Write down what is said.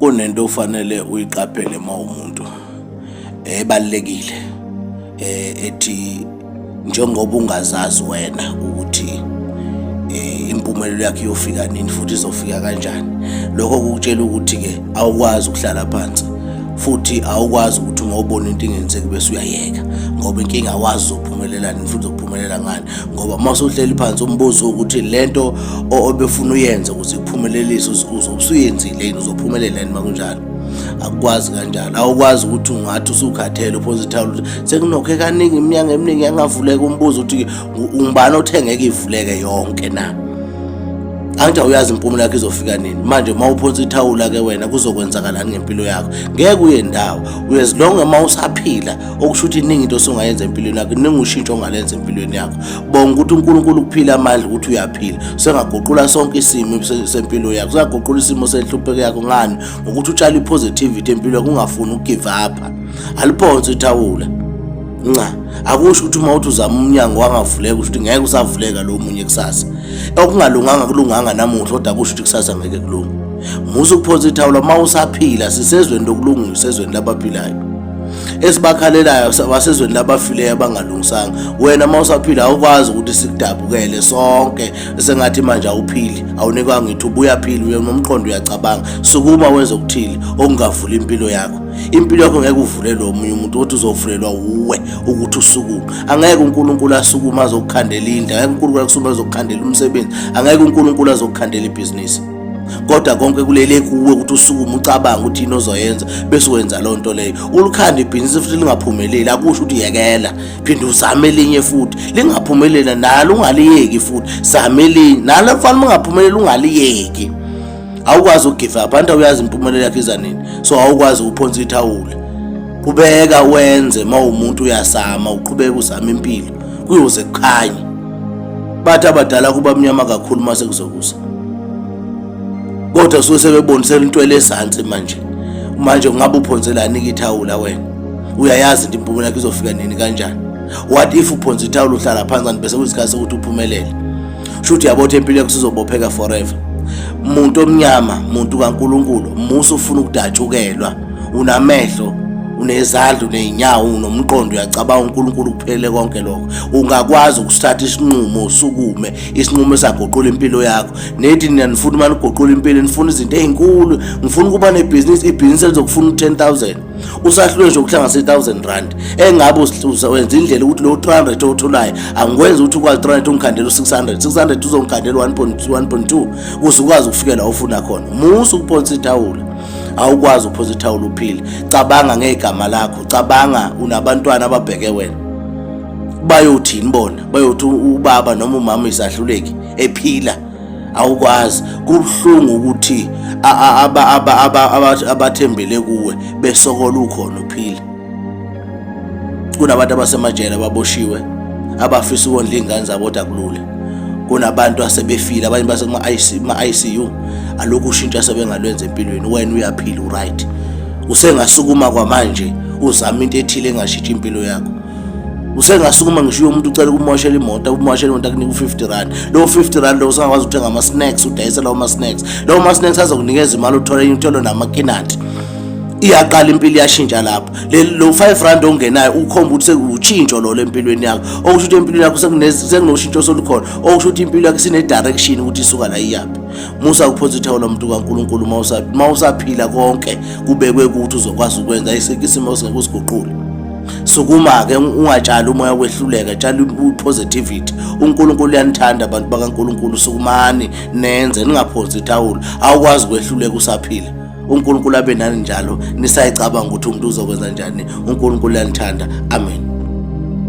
kunento ufanele uyiqaphele uma umuntu ebalekile eh, ethi njengoba ungazazi wena ukuthi eh, impumelelo yakhe iyofika nini futhi izofika kanjani lokho kukutshela ukuthi ke awukwazi ukuhlala phansi futhi awukwazi ukuthi uma ubona into ingenzeki bese uyayeka ngoba inkinga awazi uzophumelela nini futhi uzophumelela ngani ngoba uma usuhleli phansi umbuzo ukuthi le nto obefuna uyenze ukuze kuphumelelise usuyenzile yini uzophumelela yini uma kunjalo akukwazi kanjalo awukwazi ukuthi ungathi usukhathele uphosa ithawula ukuthi sekunokhe kaningi iminyanga eminingi yangavuleka umbuzo ukuthi ngubani othengeke ivuleke yonke na angithi awuyazi impumulo yakho izofika nini manje uma uphonsa ithawula ke wena kuzokwenzakalani ngempilo yakho ngeke uye ndawo uyezilonge uma usaphila okusho ukuthi iningi into osungayenza empilweni yakho iningi ushintsho ongalenza empilweni yakho bonga ukuthi uNkulunkulu ukuphila amandla ukuthi uyaphila sengaguqula sonke isimo sempilo yakho sengaguqula isimo senhlupheko yakho ngani ngokuthi utshala ipositivity empilweni kungafuni ukugive up aliphonse ithawula nca akusho ukuthi uma uthi uzama umnyango wangavuleka usho ukuthi ngeke usavuleka lo munye kusasa okungalunganga kulunganga namuhla kodwa kusho ukuthi kusasa ngeke kulunge musa ukuphonsa ithawula uma usaphila sisezweni lokulunga usezweni labaphilayo esibakhalelayo basezweni labafileyo abangalungisanga wena uma usaphila awukwazi ukuthi sikudabukele sonke sengathi manje awuphili awunikwanga ithuba uyaphila uye nomqondo uyacabanga sukuma wenze okuthile okungavula impilo yakho impilo yakho ngeke uvulelwe omunye umuntu othi uzovulelwa wuwe ukuthi usukume angeke unkulunkulu asukume azokukhandela indlu angeke unkulunkulu asukume azokukhandela umsebenzi angeke unkulunkulu azokukhandela ibhizinisi kodwa konke kulele kuwe ukuthi usukume ucabanga ukuthi yini ozoyenza bese wenza loo nto leyo ulikhanda ibhizinisi futhi lingaphumeleli akusho ukuthi yekela phinde uzame elinye futhi lingaphumelela nalo ungaliyeki futhi zame elinye nalo mfana uma ungaphumeleli ungaliyeki awukwazi ukugive up anti awuyazi impumelelo yakho iza nini so awukwazi ukuphonsa ithawula qhubeka wenze uma umuntu uyasama uqhubeka uzama impilo kuyoze kukhanye bathi abadala kuba mnyama kakhulu uma sekuzokusa kodwa suke sebebonisela into elezansi manje manje ungabe uphonselani kithawula wena uyayazi into impumela yakho izofika nini kanjani what if uphonsa ithawula uhlala phansi kanti bese kuyisikhathi sokuthi uphumelele sho ukuthi yabo ukuthi impilo yakho sizobopheka forever muntu omnyama muntu kaNkuluNkulu musa ufuna ukudatshukelwa unamehlo unezandla unezinyawo unomqondo uyacabanga uNkulunkulu kuphelele konke lokho ungakwazi ukusithatha isinqumo usukume isinqumo esaguqula impilo yakho nethi nina nifuna uma niguqula impilo nifuna izinto ezinkulu ngifuna ukuba nebhizinisi ibhizinisi elizokufuna u-10000 usahlulwe nje ukuhlanganisa i-1000 rand engabe wenza indlela ukuthi lowo 300 owutholayo angikwenzi ukuthi ukwazi 300 ungikhandela u-600 600 uzongikhandela 1.2 kuze ukwazi ukufikela ofuna khona musa ukuphonsa ithawula awukwazi ukuphosa ithawula uphile cabanga ngegama lakho cabanga unabantwana ababheke wena bayothini bona bayothi ubaba noma umama isahluleki ephila awukwazi kubuhlungu ukuthi abathembele kuwe besokola ukhona uphila kunabantu abasemajele ababoshiwe abafisa ukondla iy'ngane zabo kodwa kulula kunabantu asebefile abanye basema-icu alokhu ushintsha sebengalwenza empilweni wena uyaphila uright usengasukuma kwamanje uzama into ethile engashitshi impilo yakho usengasukuma ngisho umuntu ucela ukumoshela imoto umoshela imoto akunika u-50 rand lowo 50 rand lowo usangakwazi ukuthenga ama-snacks udayisela uma-snacks lowo ma-snacks azokunikeza imali uthole uthole namakinati iyaqala impilo iyashintsha lapho lo 5 rand ongenayo ukhomba ukuthi sekuwutshintsho lolo empilweni yakho okusho ukuthi empilweni yakho sekunoshintsho solukhona okusho ukuthi impilo yakho sine-direction ukuthi isuka la iyaphi musa kuphonsa ithawu lomuntu kankulunkulu uma usaphila konke kubekwe ukuthi uzokwazi ukwenza isimo esingeke usiguqule sukuma-ke ungatshali umoya wehluleka tshala i-positivity unkulunkulu uyanithanda abantu bakankulunkulu sukumani nenze ningaphonsi ithawula awukwazi ukwehluleka usaphila unkulunkulu abe nani njalo nisayicabanga ukuthi umuntu uzokwenza njani unkulunkulu uyanithanda amen